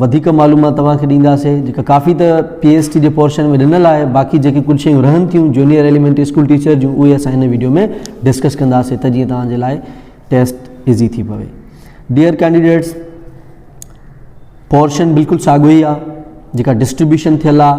وڌيڪ معلومات توهان کي ڏينداسين جيڪا ڪافي ته پي ايس ٽي جي پورشن ۾ ڏنل آهي باقي جيڪي ڪجهه شيون رهن ٿيون جونيئر ايليمينٽري اسڪول ٽيچر جون اهي اسان هن ويڊيو ۾ ڊسڪس ڪنداسين ته جيئن توهان جي لاء ٽيسٽ ايزي ٿي پوي ڊيئر ڪينڊيڊيٽس پورشن بلڪل ساڳو ئي آهي جيڪا ڊسٽريبيوشن ٿيل آهي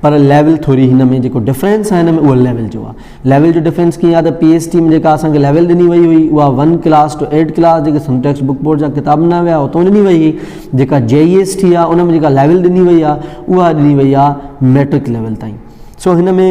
پر ليول ٿوري هن ۾ جيڪو ڊفرينس آهي هن ۾ اهو ليول جو آهي ليول جو ڊفرينس ڪيئن آهي ته پي ايس ٽي ۾ جيڪا اسان کي ليول ڏني وئي هئي اها one class two eight class جيڪي سم ٽيڪس بڪ بورڊ جا ڪتاب ڏنا ويا اتو ڏني وئي هئي جيڪا جي اي ايس ٽي آهي ان ۾ جيڪا ليول ڏني وئي آهي اها ڏني وئي آهي ميٽرڪ ليول تائين سو هن ۾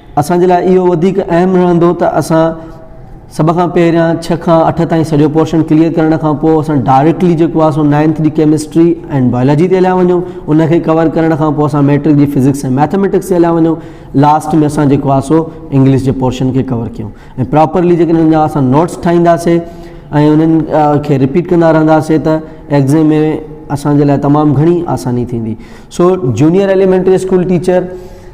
اسان جي لاء اهو وڌيڪ اهم رهندو ته اسان سڀ کان پهريان ڇهه کان اٺ تائين سڄو پورشن ڪليئر ڪرڻ کان پوء اسان ڊائريڪٽلي جيڪو آهي سو نائنٿ جي ڪيمسٽري ۽ بايولاجي تي هليا وڃون ان کي ڪور ڪرڻ کان پوء اسان ميٽرڪ جي فزڪس ۽ ميٿميٽڪس تي هليا وڃون لاسٽ ۾ اسان جيڪو آهي سو انگلش جي پورشن کي ڪور ڪيون ۽ پراپرلي جيڪڏهن انهن جا اسان نوٽس ٺاهينداسي ۽ انهن کي رپيٽ ڪندا رهنداسي ته ایگزام ۾ اسان جي لاء تمام گهڻي آساني ٿيندي سو جونيئر ايليمينٽري اسڪول ٽيچر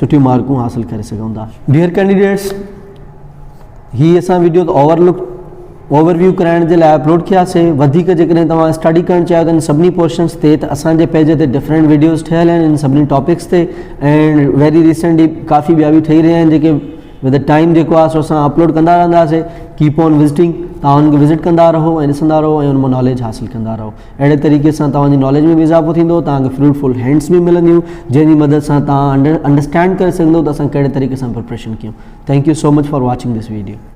سٺيون مارڪون حاصل ڪري سگهون ٿا. Dear Candidates، هي اسان وڊيو ته اوور لڪ اوور ويو ڪرائڻ جي لاء اپلوڊ ڪيا سي وڌيڪ جيڪڏهن توهان اسٽڊي ڪرڻ چاهيو ته ان سڀني پورشنس تي ته اسان جي پيج تي ڊفرنٽ وڊيوز ٺهيل آهن ان سڀني ٽاپڪس تي ۽ ويري ريسنٽلي ڪافي ٻيا به ٺهي رهيا آهن جيڪي ود ٽائيم جيڪو آهي سو اسان اپلوڊ ڪندا رهنداسي ڪيپ آن وزٽنگ توهان ان کي وزٽ ڪندا رهو ۽ ڏسندا رهو ۽ ان مان ناليج حاصل ڪندا رهو اهڙي طريقي سان توهان جي ناليج ۾ به اضافو ٿيندو، توهان کي فروٽفل هينڊس به ملنديون جنهن جي مدد سان توهان انڊرسٽينڊ ڪري سگهندو ته اسان ڪهڙي طريقي سان پريپريشن ڪيون. Thank you so much for watching this video.